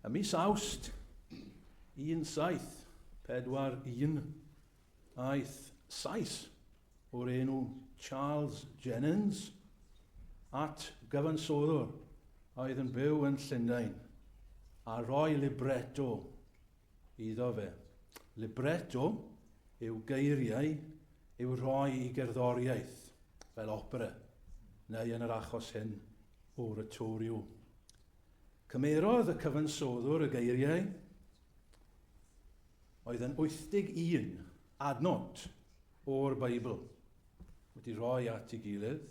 Ym mis Awst 1741, aeth Sais o'r enw Charles Jennens at gyfansoddwr a oedd yn byw yn Llundain a roi libretto iddo fe. Libretto yw geiriau i'w rhoi i gerddoriaeth, fel opera, neu yn yr achos hyn, oratorio. Cymerodd y cyfansoddwr y geiriau oedd yn 81 adnod o'r Beibl wedi rhoi at ei gilydd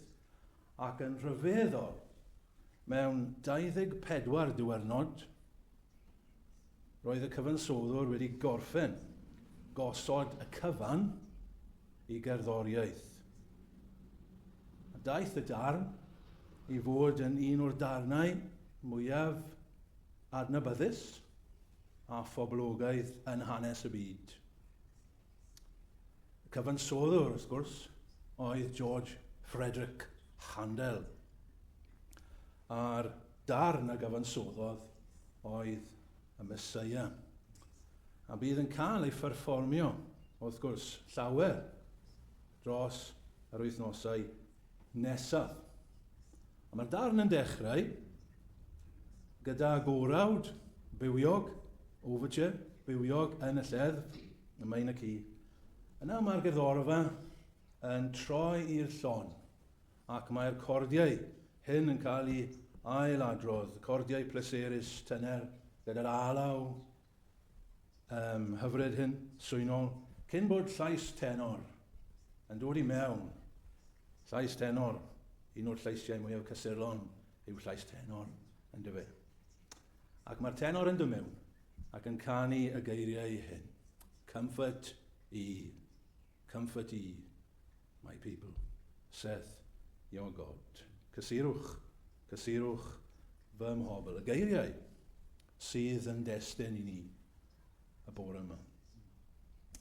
ac yn rhyfeddol mewn 24 diwrnod Roedd y cyfansoddwr wedi gorffen gosod y cyfan i gerddoriaeth. A daeth y darn i fod yn un o'r darnau mwyaf adnabyddus a phoblogaidd yn hanes y byd. Y cyfansoddwr, wrth gwrs, oedd George Frederick Handel. A'r darn a gyfansoddodd oedd y Meseia. A bydd yn cael ei pherfformio, wrth gwrs, llawer dros yr wythnosau nesaf. A mae'r darn yn dechrau gyda gorawd bywiog, overture bywiog yn y lleddf, y minor key. Yna mae'r gerddorfa yn troi i'r llon ac mae'r cordiau hyn yn cael i ail-adrodd, cordiau pleserus tener gyda'r alaw um, hyfryd hyn, swynol, cyn bod llais tenor yn dod i mewn. Llais tenor, un o'r llaisiau mwyaf cysurlon yw llais tenor, yn dyfe. Ac mae'r tenor yn dymewn ac yn canu y geiriau hyn. Comfort i Comfort ye, my people, saith your God. Cysurwch, cysurwch fy mhobl. Y geiriau sydd yn destyn i ni y bore yma.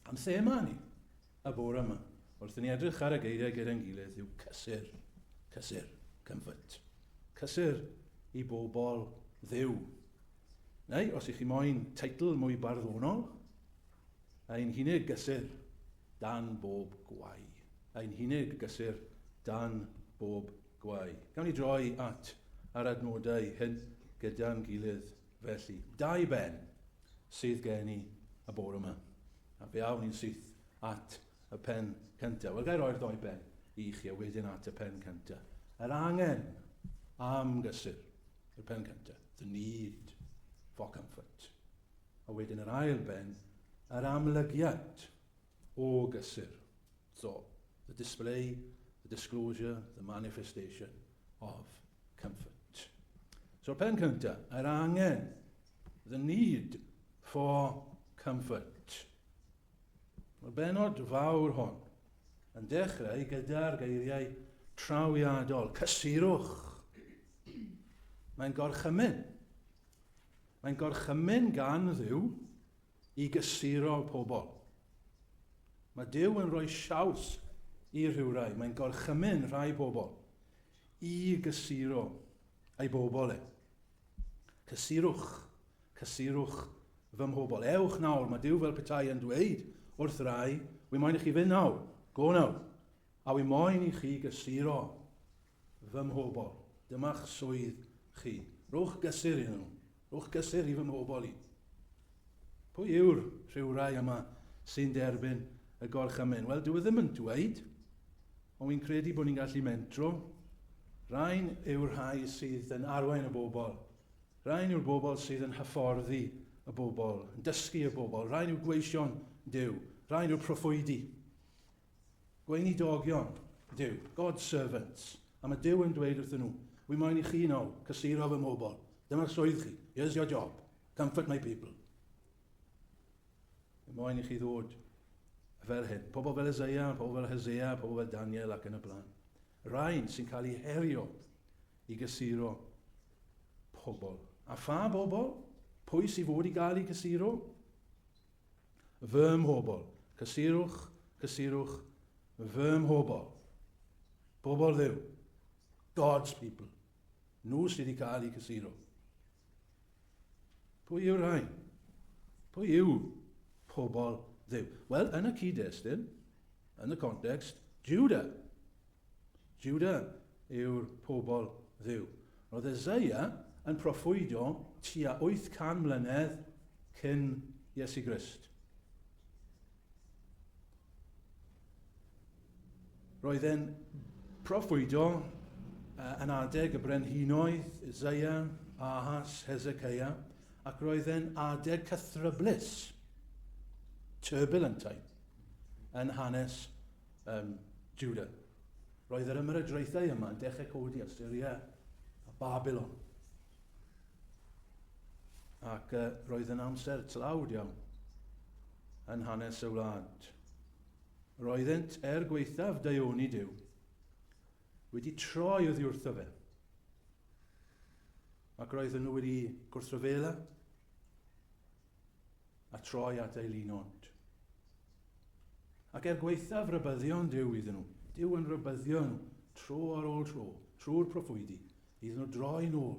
Am thema ni y bore yma, wrth ni edrych ar y geiriau gyda'n gilydd, yw cysur, cysur, comfort. Cysur i bobl ddew. Neu, os ych chi moyn teitl mwy barddonol, Ein hunig gysur dan bob gwau. Ein hunig gysur dan bob gwau. Gawn ni droi at yr adnodau hyn gyda'n gilydd felly. Dau ben sydd gen i y bore yma. A fe awn ni'n syth at y pen cyntaf. Wel, gair oer ddoi ben i chi a wedyn at y pen cyntaf. Yr angen am gysur. Y pen cyntaf. The need for comfort. A wedyn yr ail ben, yr amlygiad o gysur. So, the display, the disclosure, the manifestation of comfort. So, pen cyntaf, yr angen, the need for comfort. Mae'r benod fawr hon yn dechrau gyda'r geiriau trawiadol, cysurwch. Mae'n gorchymyn. Mae'n gorchymyn gan Dduw i gysuro pobl. Mae Duw yn rhoi siawns i rhywrai. Mae'n gorchymyn rhai pobl i gysuro ei bobl e. Cysurwch, cysurwch fy mhobl. Ewch nawr, mae Duw fel petai yn dweud wrth rai, wy moyn i chi fynd nawr, go nawr, a wy moyn i chi gysuro Fy mhobl, dyma'ch swydd chi. Rhowch gysur iddyn nhw. Rhowch gysur i fy mhobl i. Pwy yw'r rhywrai yma sy'n derbyn y gorchymyn? Wel, dyw e ddim yn dweud, ond wy'n credu bod ni'n gallu mentro. Rhain yw'r rhai sydd yn arwain y bobl. Rhain yw'r bobl sydd yn hyfforddi y bobl, yn dysgu y bobl. Rhain yw gweision Duw. Rhain yw'r proffwydi. Gweinidogion Duw, God's servants. A mae Duw yn dweud wrthyn nhw, Wy moyn i chi nawr cysuro fy mhobl. Dyma'r swydd chi. Here's your job. Comfort my people. Wy moyn i chi ddod fel hyn. Pobl fel Isaiah, pobl fel Hosea, pobl fel Daniel ac yn y blaen. Rhain sy'n cael eu herio i gysuro pobl. A pha bobl? Pwy sy'n fod i gael eu cysuro? Fy mhobl, cysurwch, cysurwch, fy mhobl. Pobl ddew. God's people. Nhw sydd wedi cael eu cysuro. Pwy yw'r rhain? Pwy yw pobl ddew? Wel, yn y cyd-destun, yn y context, Judah Jiwda yw'r pobl Dduw. Roedd Eseia yn proffwydo tua 800 mlynedd cyn Iesu Grist. Roedd e'n proffwydo yn adeg y brenhinoedd Isaiah, Ahas, Hezekiah, ac roedd e'n adeg cythryblus, turbulent time, yn hanes Ym Jiwda. Roedd yr ymerodraethau yma yn dechrau codi Asyria a Babylon. Ac uh, roedd yn amser tlawd iawn yn hanes y wlad. Roeddent, er gweithaf daioni Dyw, wedi troi oddi wrtho fe. Ac roedden nhw wedi gwrthryfela a troi at ei lun ond. Ac er gwaethaf rybyddion Dyw iddyn nhw, Dyw yn rybyddio nhw tro ar ôl tro, trwy'r proffwydi, iddyn nhw droi nôl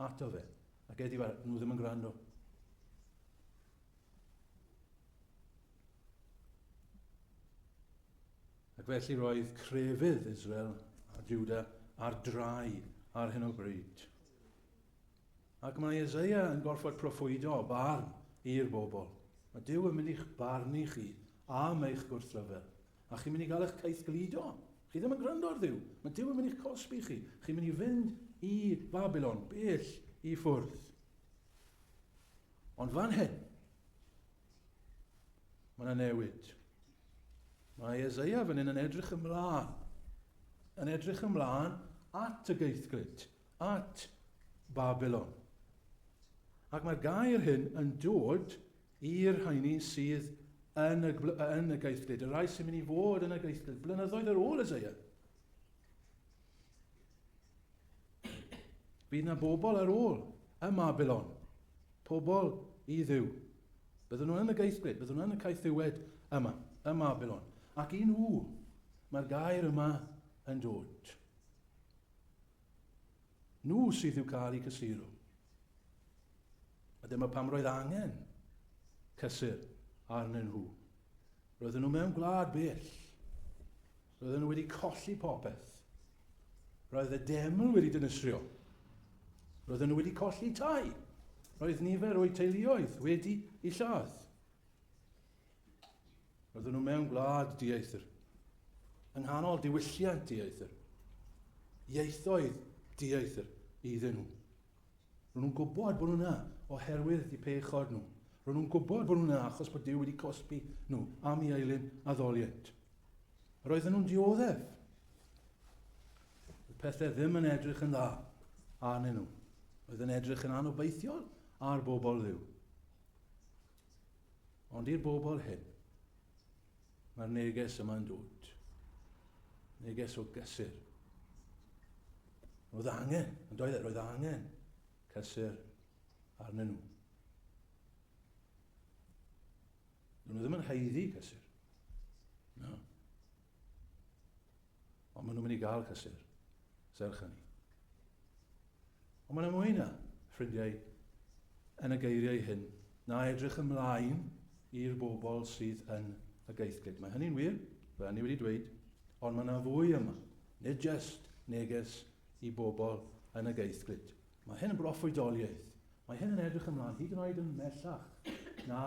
ato fe, ac edi fe nhw ddim yn gwrando. Ac felly roedd crefydd Israel a Juda ar drai ar hyn o bryd. Ac mae Eseia yn gorfod proffwydo barn i'r bobl. Mae Duw yn mynd i'ch barnu chi am eich gwrthryfel. A chi'n mynd i gael eich caethgludo. Chi ddim yn gwrando ar Dduw. Mae Duw yn mynd i'ch cosbi chi. Chi'n mynd i fynd i Babylon, bell i ffwrdd. Ond fan hyn, mae yna newid. Mae Eseia fan hyn yn edrych ymlaen. Yn edrych ymlaen at y geithglyd. at Babilon. Ac mae'r gair hyn yn dod i'r rhaini sydd yn y, yn y geithlyd, y rhai sy'n mynd i fod yn y geithlyd, blynyddoedd ar ôl Isaiah. Bydd yna bobl ar ôl y Mabilon, pobl i ddiw. Byddwn nhw yn y geithlyd, byddwn nhw yn y caethiwed yma, y Mabilon. Ac i nhw, mae'r gair yma yn dod. Nhw sydd i'w cael i gysuru. A dyma pam roedd angen cysur arnyn nhw. Roedden nhw mewn gwlad bell. Roedden nhw wedi colli popeth. Roedd y deml wedi dynysrio. Roedden nhw wedi colli tai. Roedd nifer o'u teuluoedd wedi i lladd. Roedden nhw mewn gwlad dieithr, yng nghanol diwylliant dieithr, ieithoedd dieithr iddyn nhw. Roedden nhw'n gwybod bod nhw'na oherwydd y pechod nhw. Roedden nhw'n gwybod bod nhw'na achos bod Dyw wedi cosbi nhw am i eilun addoliant. Roedden nhw'n dioddef. Y pethau ddim yn edrych yn dda arnyn nhw. Roedd yn edrych yn anobeithiol ar bobl ddiw. Ond i'r bobl hyn, mae'r neges yma'n dod. Neges o gysur. Roedd angen, yn doedd e, roedd angen cysur arnyn nhw. Doedd nhw ddim yn haeddu cysur. No. Ond maen nhw'n mynd i gael cysur, serch hynny. Ond mae'n mwy na, ffrindiau, yn y geiriau hyn, na edrych ymlaen i'r bobl sydd yn y geithglyd. Mae hynny'n wir, fel ni wedi dweud, ond mae yna fwy yma, nid jyst neges i bobl yn y geithglyd. Mae hyn yn broffwydoliaeth. Mae hyn yn edrych ymlaen, hyd yn oed yn mellach na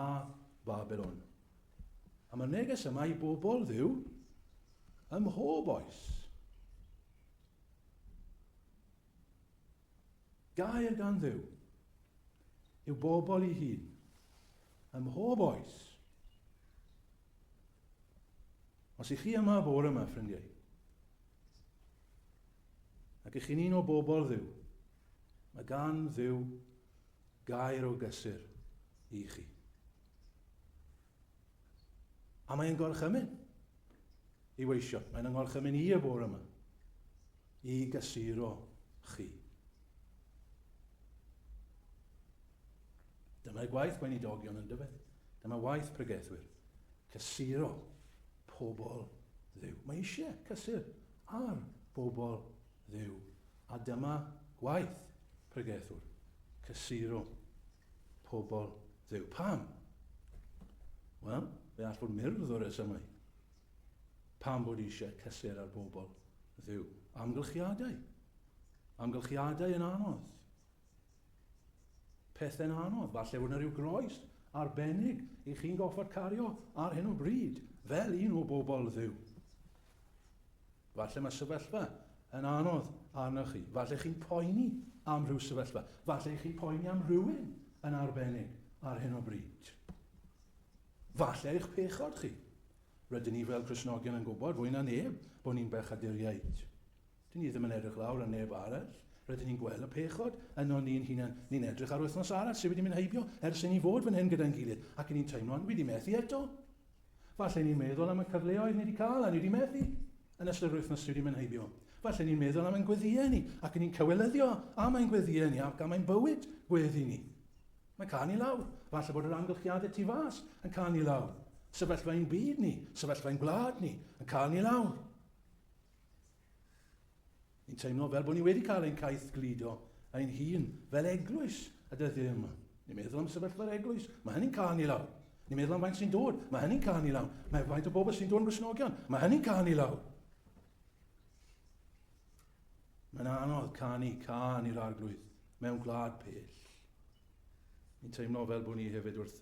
Babylon. A mae neges yma i bobl ddiw ym mhob oes. Gair gan ddiw yw bobl i hun ym mhob oes. Os ych chi yma bore yma, ffrindiau, ac ych chi'n un o bobl ddiw, mae gan ddiw Gair o gysur i chi. A mae'n gorchymyn i weisio. Mae'n yngorchymyn i y bore yma. I gysuro chi. Dyma gwaith gweinidogion yn dyfed. Dyma waith pregethwyr. Cysuro pobl ddew. Mae eisiau cysur ar bobl ddew A dyma gwaith pregethwr, cysuro pobl Dduw. Pam? Wel, fe all fod myrdd o resymau. Pam bod eisiau cysur ar bobl Dduw? Amgylchiadau. Amgylchiadau yn anodd. Pethau'n anodd. Falle bod yna rhyw groes arbennig i chi'n goffod cario ar hyn o bryd, fel un o bobl Dduw. Falle mae sefyllfa yn anodd arnoch chi. Falle chi'n poeni am rhyw sefyllfa. Falle chi'n poeni am rhywun yn arbennig ar hyn o bryd. Falle eich pechod chi. Rydyn ni fel Cresnogion yn gwybod fwy na neb bod ni'n bechaduriaid. Dyn ni ddim yn edrych lawr ar neb arall, rydyn ni'n gweld y pechod ynon ni'n hunain, ni'n edrych ar wythnos arall sydd wedi mynd heibio ers i ni fod fan hyn gyda'n gilydd, ac 'y ni'n teimlo'n wedi methu eto. Falle ni'n meddwl am y cyfleoedd ni wedi cael a ni wedi methu yn ystod yr wythnos sydd wedi mynd heibio. Falle ni'n meddwl am ein gweddïau ni, ac 'y ni'n cywilyddio am ein gweddïau ni ac am ein bywyd gweddi ni. Mae'n cael ni lawr. Falle bod yr amgylchiadau tu fas yn cael ni lawr. Sefyllfa ein byd ni, sefyllfa ein gwlad ni, yn cael ni lawr. Ni'n teimlo fel bod ni wedi cael ein caeth gludo ein hun fel eglwys y dyddiau yma. Ni'n meddwl am sefyllfa'r eglwys, mae hynny'n cael ni lawr. Ni'n meddwl am faint sy'n dod, mae hynny'n cael ni lawr. Mae faint o bobl sy'n dod yn grisnogion, mae hynny'n cael ni lawr. Mae'n anodd canu can i'r arglwydd mewn gwlad pell. Ni'n teimlo fel bod ni hefyd wrth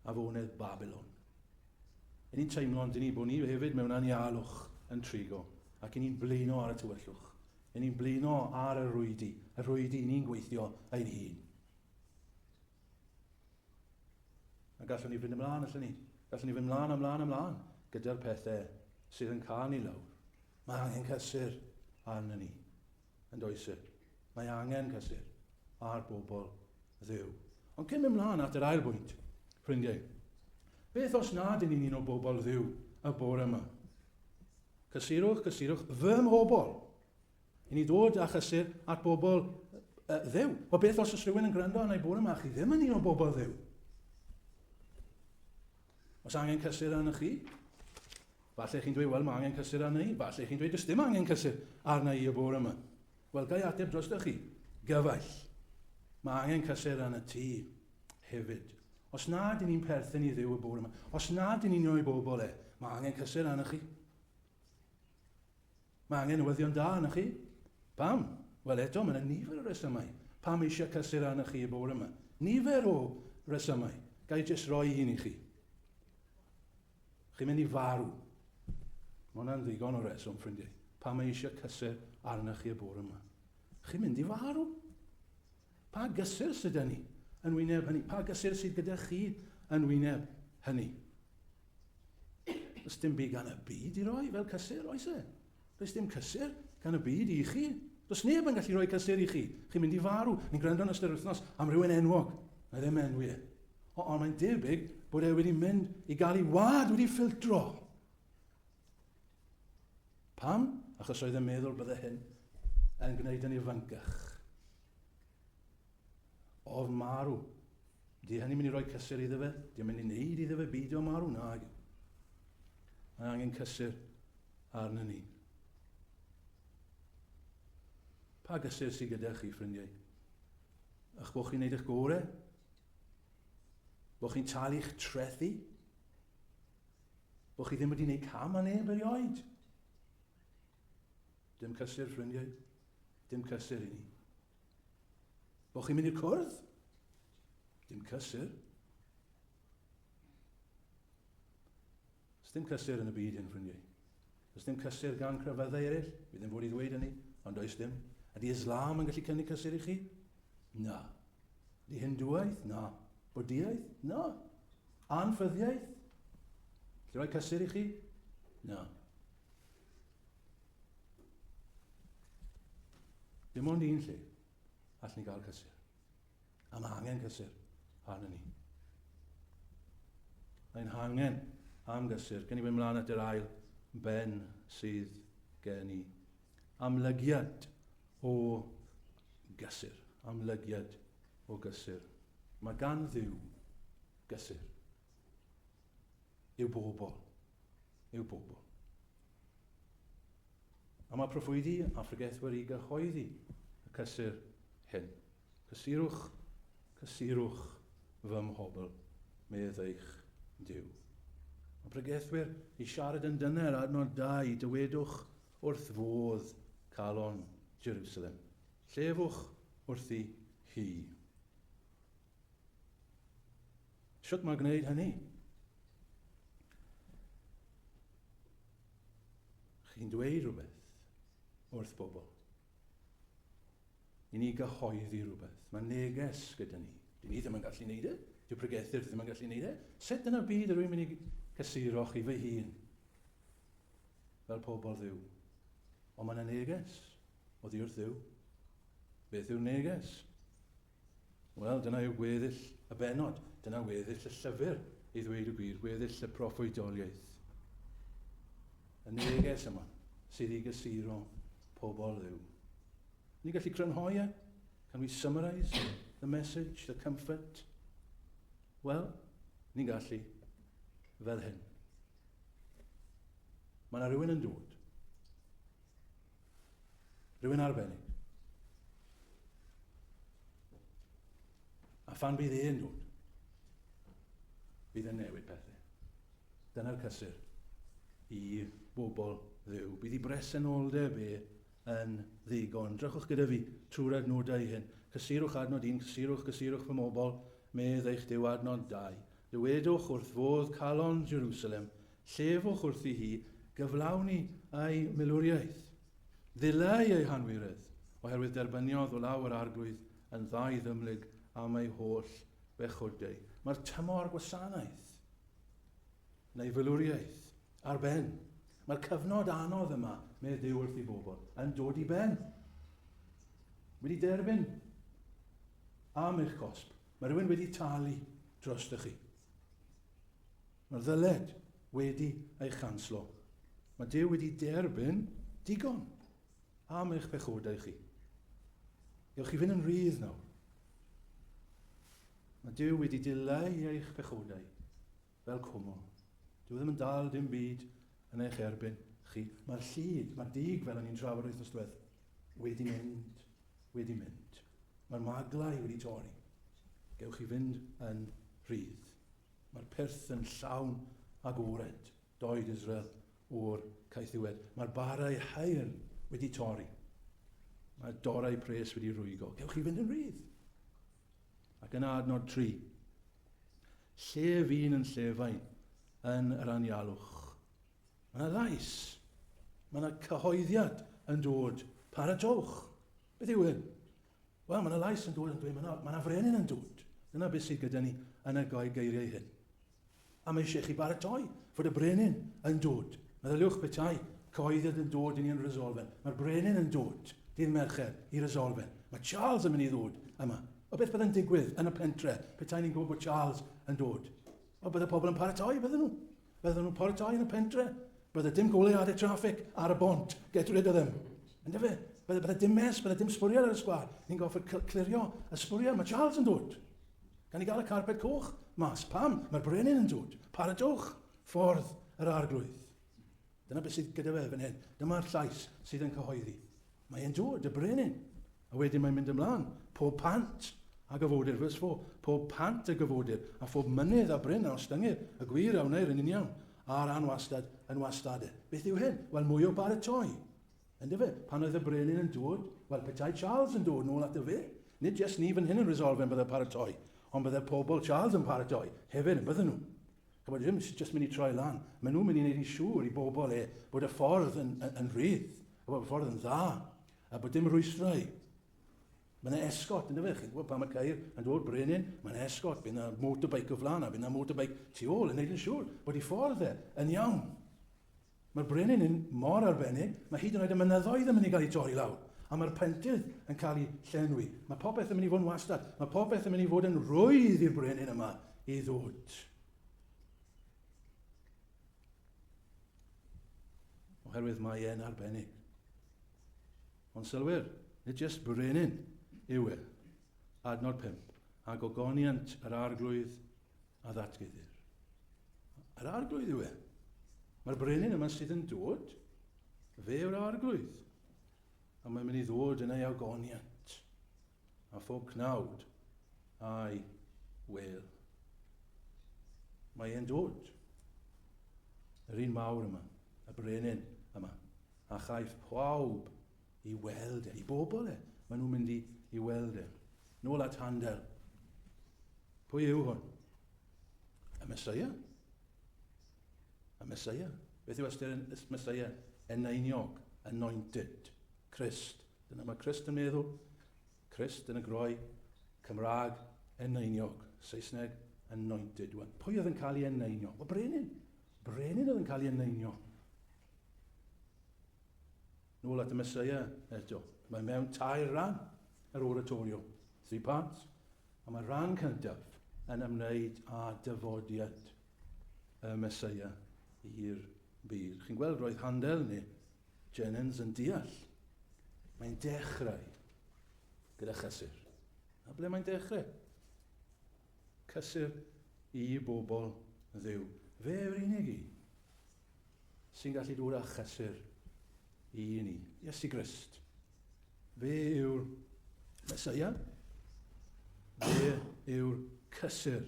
afonedd Babylon. Yn ni'n teimlo ond ni bod ni hefyd mewn anialwch yn trigo, ac yn ni'n blino ar y tywyllwch. Yn ni'n blino ar y rwydi, y rwydi ni'n gweithio ein hun. A gallwn ni fynd ymlaen, allwn ni. Gallwn ni fynd ymlaen, ymlaen, ymlaen, gyda'r pethau sydd yn cael ni lawr. Mae angen cysur arno ni. yn does e? Mae angen cysur ar bobl ddew. Ond cyn mynd mlaen at yr ail bwynt, ffrindiau, beth os nad yn un o bobl ddew y bore yma? Cysurwch, cysurwch fy mhobl. I ni ddod â chysur at bobl uh, ddew. O beth os ys rhywun yn gwrando arna i bore yma, chi ddim yn un o bobl ddew. Os angen cysur arna chi, Falle chi'n dweud, 'Wel, mae angen cysur arna i. Falle chi'n dweud, 'Does dim angen cysur arna i y bore yma. Wel, ga i ateb drostoch chi? Gyfaill. Mae angen cysur arna ti hefyd. Os na dyn ni'n perthyn i Dduw y bore yma, os na dyn ni'n o'i bobl e, mae angen cysur arna chi. Mae angen newyddion da arna chi. Pam? Wel, eto, mae yna nifer o resymau. Pam eisiau cysur arna chi y bore yma? Nifer o resymau. Ga i jyst roi un i chi? Chi'n mynd i farw. Mae hwnna'n ddigon o reswm, ffrindiau. Pa mae eisiau cysur arna chi y bore yma? Chi'n mynd i farw. Pa gysur sydd â ni yn wyneb hynny? Pa gysur sydd gyda chi yn wyneb hynny? Ys dim byd gan y byd i roi fel cysur, oes e? Does dim cysur gan y byd i chi. Does neb yn gallu rhoi cysur i chi. Chi'n mynd i farw. Ni'n gwrando yn ystod yr wythnos am rhywun enwog. Na ddim enwi e. O, ond mae'n debyg bod e wedi mynd i gael ei wad wedi ffiltro. Pam? Achos oedd yn meddwl bydde hyn yn gwneud yn ifancach. O'r marw. Di hynny'n mynd i roi cysur iddo fe? Di o'n mynd i wneud iddo fe beidio â marw? Na, yw. Mae angen cysur arnyn ni. Pa gysur sydd gyda chi, ffrindiau? Ych bod chi'n gwneud eich gore? Bod chi'n talu'ch trethu? Bod chi ddim wedi gwneud cam a neb erioed? Dim cysur, ffrindiau. Dim cysur i ni. Bo chi'n mynd i'r cwrdd? Dim cysur. Dim cysur yn y byd hyn, ffrindiau. Does dim cysur gan crefyddau eraill, fi ddim fod i ddweud hynny, ond does dim. Ydy Islam yn gallu cynnig cysur i chi? Na. Ydy Hindwaidd? Na. Bwdiaeth? Na. Anffyddiaeth? Lle roi cysur i chi? Na. Dim ond un lle all ni gael cysur. A mae angen cysur arnyn ni. Mae'n hangen am gysur. Gen i fynd mlaen at yr ail ben sydd gen i. Amlygiad o gysur. Amlygiad o gysur. Mae gan ddiw gysur. yw bobl, yw bobl. A mae proffwydi a phregethwyr wedi gyhoeddi y cysur hyn. Cysurwch, cysurwch fy mhobl, medd eich Dyw. Mae pregethwyr i siarad yn dyner adnod dau, dywedwch wrth fodd calon Jerusalem. Llefwch wrthi hi. Sut mae gwneud hynny? Chi'n dweud rhywbeth wrth bobl. I ni gyhoeddi rhywbeth. Mae neges gyda ni. Dyn ni ddim yn gallu gwneud e. Dyw pregethyr ddim yn gallu gwneud e. Sut yn y byd yr wy'n mynd i cysuro chi fy hun fel pobl ddiw. Ond mae yna neges o ddi wrth ddiw. Beth yw'r neges? Wel, dyna yw gweddill y bennod. Dyna weddill y llyfr, i ddweud y gwir, gweddill y proffwydoliaeth. Y neges yma sydd i gysuro pobl ddiw. Ni gallu crynhoi e? Can we summarise the message, the comfort? Wel, ni'n gallu fel hyn. Mae yna rhywun yn dod. Rwy'n arbennig. A phan bydd un nhw'n, bydd yn newid pethau. Dyna'r cysur i bobl ddew. Bydd i bresenoldeb e yn ddigon. Drychwch gyda fi trwy'r adnodau hyn. Cysurwch adnod un, cysurwch, cysurwch fy mobl, medd eich dew adnod dau. Dywedwch wrth fodd calon Jerusalem, Llefwch wrthi hi gyflawni ei milwriaeth. Ddileu ei hanwiredd, oherwydd derbyniodd o law yr Arglwydd yn ddau ddymlyg am ei holl bechod-deu. Mae'r tymor gwasanaeth, neu filwriaeth, ar ben. Mae'r cyfnod anodd yma, medd Duw wrth ei bobl, yn dod i ben. Wedi derbyn am eich cosb. Mae rhywun wedi talu drostych chi. Mae'r ddyled wedi ei chanslo. Mae Duw wedi derbyn digon am eich pechodau chi. Gewch chi fynd yn rhydd nawr. Mae Duw wedi dileu eich pechodau fel cwmwl. Dyw e ddim yn dal dim byd yn eich erbyn chi. Mae'r llid, mae'r dig fel o'n i'n trafod wythnos diwedd, wedi mynd, wedi mynd. Mae'r maglau wedi torri. Gewch chi fynd yn rhydd. Mae'r pyrth yn llawn agored, doed Israel o'r caethiwed. Mae'r barau haearn wedi torri. Mae'r dorau pres wedi rwygo. Cewch chi fynd yn rhydd. Ac yna adnod tri. Lle fi'n yn llefain yn yr anialwch. Mae yna lais. Mae yna cyhoeddiad yn dod. Paratowch. Beth yw hyn? Wel, mae yna lais yn dod yn dweud, mae yna, mae yna frenin yn dod. Dyna beth sydd gyda ni yn y goi geiriau hyn. A mae eisiau chi baratoi fod y brenin yn dod. Meddyliwch petai cyhoeddiad yn dod i ni yn resolfen. Mae'r brenin yn dod dydd Mercher i resolfen. Mae Charles yn mynd i ddod yma. O beth byddai'n digwydd yn y pentre petai ni'n gwybod bod Charles yn dod? O, bydde pobl yn paratoi, bydden nhw. Bydden nhw'n paratoi yn y pentre. Bydde dim goleuadau traffig ar y bont. Get rid of them. Ynddo fe? Bydde, bydde dim mes, bydde dim sbwriel ar y sgwar. Ni'n goffod clirio y sbwriel. Mae Charles yn dod. Gan i gael y carpet coch mas. Pam? Mae'r brenin yn dod. Paratowch ffordd yr arglwydd. Dyna beth sydd gyda fe fan hyn. Dyma'r llais sydd yn cyhoeddi. Mae e'n dod, y brenin. A wedyn mae'n mynd ymlaen. Pob pant a gyfodir, vers 4, pob pant a gyfodir, a phob mynydd a bryn a ostyngir, y gwir a wneir yn uniawn, a'r anwastad yn wastad. Beth yw hyn? Wel, mwy o baratoi. Yndyfe? Pan oedd y brenin yn dod, wel, petai Charles yn dod nôl ato fe, nid jes ni fan hyn yn resolfed yn byddai paratoi, ond byddai pobl Charles yn paratoi hefyd yn bydden nhw. Ac mae ddim jyst mynd i troi lan, maen nhw'n mynd i wneud yn siŵr i bobl e bod y ffordd yn, yn, yn rhydd, a bod y ffordd yn dda, a bod dim rhwystrau. Mae yna esgot, ynddo fe, chi'n gwybod, pan mae ceir yn dod brenin, mae yna esgot, bydd yna motorbike o flaen, a bydd yna motorbike tu ôl yn neud yn siŵr bod i ffordd e yn iawn. Mae'r brenin yn mor arbennig, mae hyd yn oed y mynyddoedd yn mynd i gael eu torri lawr, a mae'r pentydd yn cael eu llenwi. Mae popeth yn mynd i fod yn wastad, mae popeth yn mynd i fod yn rwydd i'r brenin yma i ddod. Oherwydd mae e'n arbennig. Ond sylwyr, nid jyst brenin yw e. Adnod 5. A gogoniant yr arglwydd a ddatguddir. Yr arglwydd yw e. Mae'r brenin yma sydd yn dod, fe yw'r arglwydd. A mae'n mynd i ddod yn ei agoniant, a phob cnawd a'i wel. Mae e'n dod. Yr un mawr yma, y brenin yma, a chaiff pawb i weld e, i bobl e. Mae nhw'n mynd i, i weld e. Nôl at Handel. Pwy yw hwn? Y Mesoea. Y Mesoea. Beth yw ystyr y Mesoea? Eneiniog, anointed, Christ. Dyna mae Christ yn meddwl. Christ yn y groi, Cymraeg, eneiniog, Saesneg, anointed. Wel, pwy oedd yn cael ei eneinio? O, brenin. Brenin oedd yn cael ei eneinio. Nôl at y Messiah eto. Mae mewn tair rhan yr oratorio, three parts, a mae'r rhan cyntaf yn ymwneud â dyfodiad y Messiah i'r byd. Chi'n gweld, roedd Handel neu Jennings yn deall. Mae'n dechrau gyda chysur. A ble mae'n dechrau? Cysur i bobl ddew. Fe yw'r unig un sy'n gallu dod â chysur i ni, Iesu Grist. Fe yw'r Mesoea, fe yw'r cysur.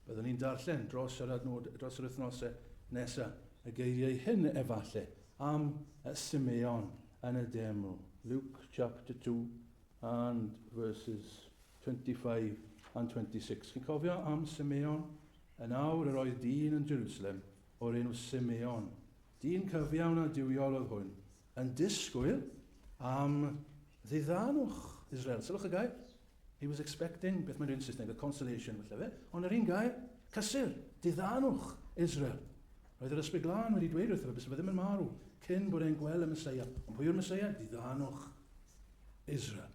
Byddwn ni'n darllen dros yr, adnod, dros yr wythnosau nesaf y geiriau hyn efallai am y Simeon yn y deml. Luke chapter 2 and verses 25 and 26. Chi'n cofio am Simeon? Yn awr yr oedd dyn yn Jerusalem o'r enw Simeon. Dyn cyfiawn a duwiol oedd hwn, yn disgwyl am ddiddanwch Israel. Sylwch y gair. He was expecting, beth mae'n dweud yn Saesneg, a consolation, felly fe. Ond yr un gair, cysur, diddanwch Israel. Roedd yr Ysbryd Glân wedi dweud wrtho fe bys fe ddim yn marw cyn bod e'n gweld y Mesoea. Ond pwy yw'r Mesoea? Diddanwch Israel.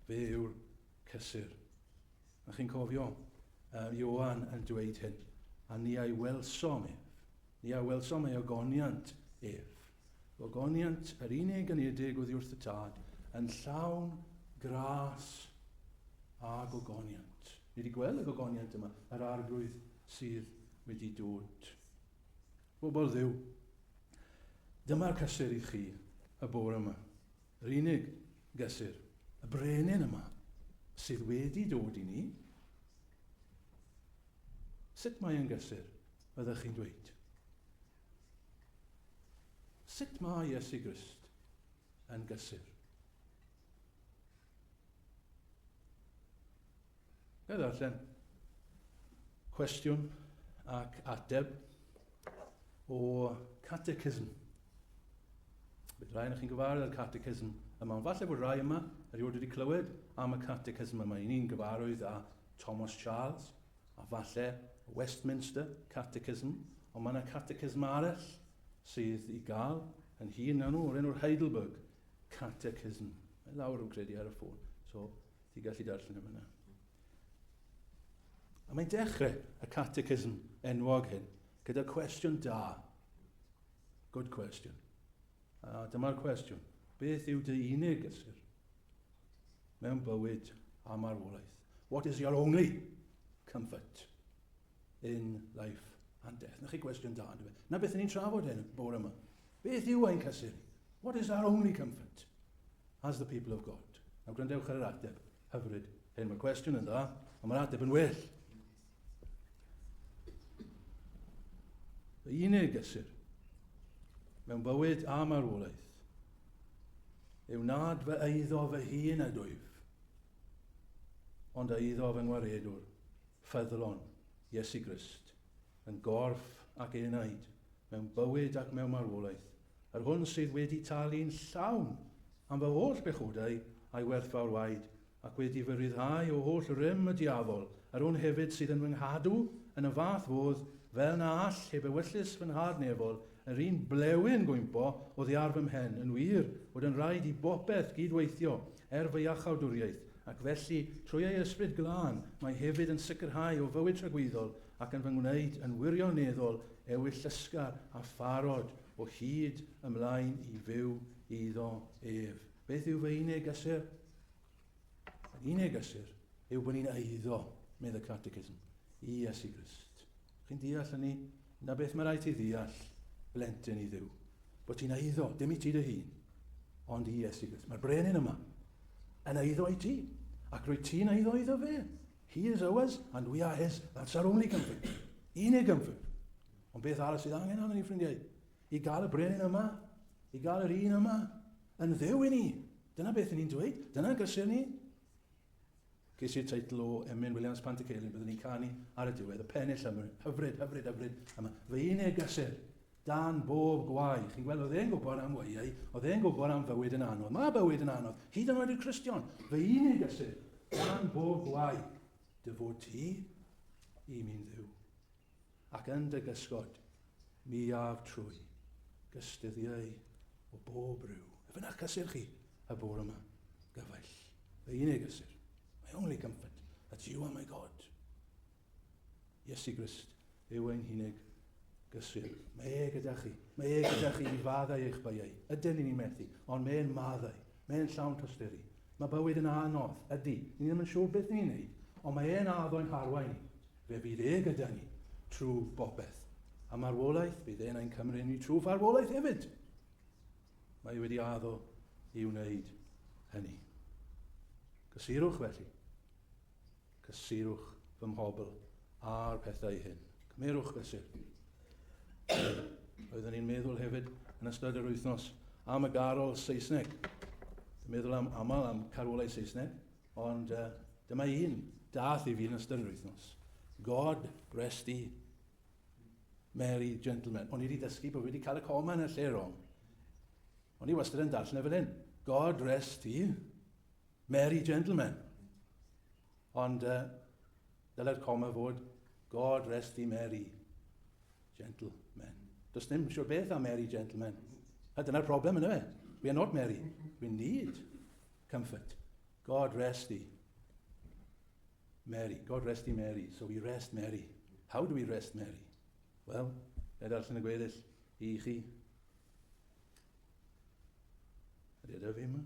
Fe yw'r cysur. A chi'n cofio uh, Ioan yn dweud hyn, a ni a'i welsom ef, ni a welsom ei ogoniant ef. Ogoniant yr unig yn edig oddi wrth y tad, yn llawn gras a gogoniant. Ni wedi gweld y gogoniant yma, yr arglwydd sydd wedi dod. Bobl ddiw, dyma'r cysur i chi y bore yma. Yr unig gysur, y brenin yma, sydd wedi dod i ni? Sut mae e'n gysur, fyddech chi'n dweud? Sut mae Iesu Grist yn gysur? Ga i ddarllen cwestiwn ac ateb o catechism. Bydd rhai o'ch chi'n gyfarwydd â'r catechism yma, ond falle bod rhai yma erioed wedi clywed am y catechism yma. Y'n ni'n gyfarwydd â Thomas Charles, a falle Westminster Catechism, ond mae yna catechism arall sydd i gael yn hun na nhw, o'r enw'r Heidelberg Catechism. Mae lawr yn credu ar y ffôn. So, Ti'n gallu darllen yn fyna. A mae'n dechrau y catechism enwog hyn gyda cwestiwn da. Good question. A dyma'r cwestiwn. Beth yw dy unig gysur mewn bywyd a marwolaeth? What is your only comfort in life and death? Na chi gwestiwn da, Na beth ni'n trafod hyn bore yma. Beth yw ein cysur? What is our only comfort? As the people of God. Nawr gwrandewch ar yr ateb hyfryd hyn. Mae'r cwestiwn yn dda, ond mae'r ateb yn well. Y unig gysur mewn bywyd a marwolaeth yw nad fy eiddo fy hun a dwyf, ond a eiddo fy ngwaredwr, ffyddlon, Iesu Grist, yn gorff ac enaid, mewn bywyd ac mewn marwolaeth, yr hwn sydd wedi talu'n llawn am fy holl bechodau a'i werthfawr waed, ac wedi fy ryddhau o holl rym y diafol, yr hwn hefyd sydd yn fy nghadw yn y fath fodd fel na all heb ewyllys fy nhad nefol, yr un blewyn gwympo oddi ar fy mhen, yn wir, fod yn rhaid i bopeth gyd-weithio er fy iachawdwriaeth, ac felly, trwy ei Ysbryd Glân, mae hefyd yn sicrhau o fywyd tragwyddol ac yn fy ngwneud yn wirioneddol ewyllysga a pharod o hyd ymlaen i fyw iddo ef. Beth yw fy unig gysur? Fy unig gysur yw bod ni'n eiddo, medd y Catechism, i Iesu Grist. Chi'n deall hynny? Na beth mae rhaid ti ddeall, blentyn i ddiw. Bod ti'n eiddo, dim i ti dy hun, ond i Iesu Grist. Mae'r brenin yma yn eiddo i ti, ac rwy ti'n eiddo iddo fe. He is ours and we are his. That's our only comfort. Unig comfort. Ond beth arall sydd angen arno ni, ffrindiau? I gael y brenin yma, i gael yr un yma, yn ddew i ni. Dyna beth ni'n dweud, dyna gysur ni. Ges i'r teitl o Emlyn Williams Pant y Ceilin, byddwn ni'n canu ar y diwedd, y pennill hyfryd, hyfryd, hyfryd, hyfryd, yma, fy unig gysur. Dan bob gwaed. Chi'n gweld, oedd e'n gwybod am weihau, oedd e'n gwybod am fywyd yn anodd. Mae bywyd yn anodd, hyd yn oed i'r Cristion. Fy unig ysyr, dan bob gwaed, dy fod ti i mi'n ddiw. Ac yn dy gysgod, mi af trwy gystuddiau o bob rhyw. Efe na'ch cysur chi, y bore yma, gyfaill. Fy unig ysyr, my only comfort, that's you and my God. Iesu Grist yw ein hunig gysur. Mae e gyda chi. Mae e gyda chi i faddau eich baiau. Ydyn ni'n ei methu, ond mae e'n maddau. Mae e'n llawn tosturi. Mae bywyd yn anodd, ydy. Ni ddim yn siŵr beth ni'n neud, ond mae e'n addo i'n harwain ni. Fe fydd e gyda ni trwy bopeth. A marwolaeth, bydd e'n ein cymryd ni trwy farwolaeth hefyd. Mae e wedi addo i wneud hynny. Gysurwch felly. Cysurwch fy mhobl â'r pethau hyn. Cymerwch fesur. Roeddwn i'n meddwl hefyd yn ystod yr wythnos am y garol Saesneg. Dwi'n meddwl am aml am carolau Saesneg, ond uh, dyma un dath i fi yn ystod yr wythnos. God rest ye, Mary Gentleman. O'n i wedi dysgu bod wedi cael y coma yn y lle rong. O'n i wastad yn darllen e fel hyn. God rest ye, Merry gentlemen. Ond uh, dylai'r coma fod God rest thee Mary, gentlemen. Does dim siwr beth am Mary, gentlemen. A dyna'r problem yna fe. We are not Mary. We need comfort. God rest thee. Mary. God rest thee Mary. So we rest Mary. How do we rest Mary? Wel, na darllen y gweddill i chi. Ydy, ydy fi yma?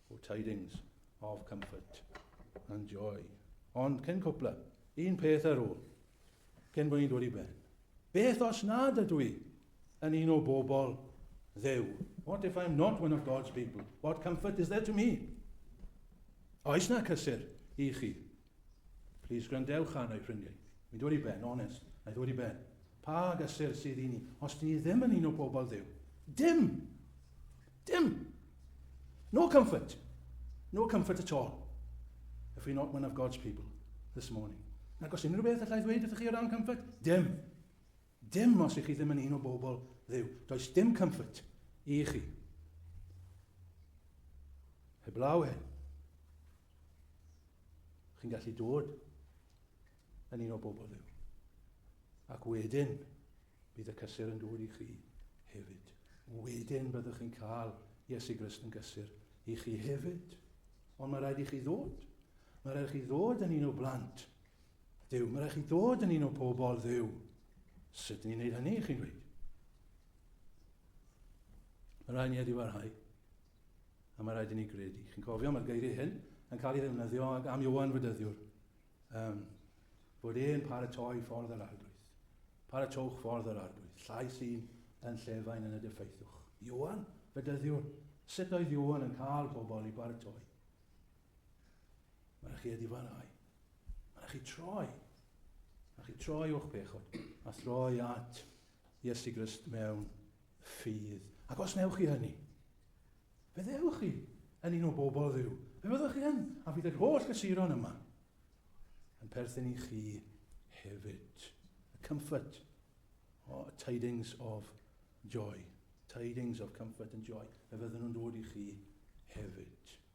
O tidings of comfort and joy. Ond cyn cwpla, un peth ar ôl, cyn bod ni'n dod i ben. Beth os nad ydw i yn un o bobl ddew? What if I'm not one of God's people? What comfort is there to me? Oes na cysur i chi Plis gwrandewch arno ffrindiau. Mae'n dod i ben, onest, mae'n dod i ben. Pa gysur sydd i ni os dyn ni ddim yn un o bobl Dduw? Dim! Dim! No comfort! No comfort at all. If we're not one of God's people this morning. Nag os unrhyw beth allai ddweud wrthych chi o ran comfort? Dim! Dim os i chi ddim yn un o bobl Dduw. Does dim comfort i chi. Heblaw hyn. Chi'n gallu dod yn un o bobl Dduw. Ac wedyn, bydd y cysur yn dod i chi hefyd. Wedyn byddwch chi'n cael Iesu Grist yn gysur i chi hefyd. Ond mae rhaid i chi ddod. Mae rhaid i chi ddod yn un o blant Duw, mae'n rhaid chi ddod yn un o pobl dduw. Sut ni'n neud hynny, chi'n dweud? Mae'n rhaid ni wedi warhau. A mae'n rhaid i ni gredu. Chi'n cofio, mae'r geiriau hyn yn cael ei ddefnyddio am Iwan Fydyddiwr. Um, bod e'n paratoi ffordd yr arglwydd. Paratowch ffordd yr arglwydd. Llais un yn llefain yn y dyffaethwch. Iwan, fydyddiwr, sut oedd Iwan yn cael pobl i baratoi? Mae rhaid chi adifarau. Mae rhaid chi troi. Mae rhaid chi troi o'ch pechod a throi at Iesu Grist mewn ffydd. Ac os newch chi hynny, fe ddewch chi yn un o bobl ddiw. Fe fyddwch chi yn, a fydd yr holl gysuron yma yn perthyn i chi hefyd. A comfort, oh, tidings of joy, tidings of comfort and joy. Fe fydden nhw'n dod i chi hefyd.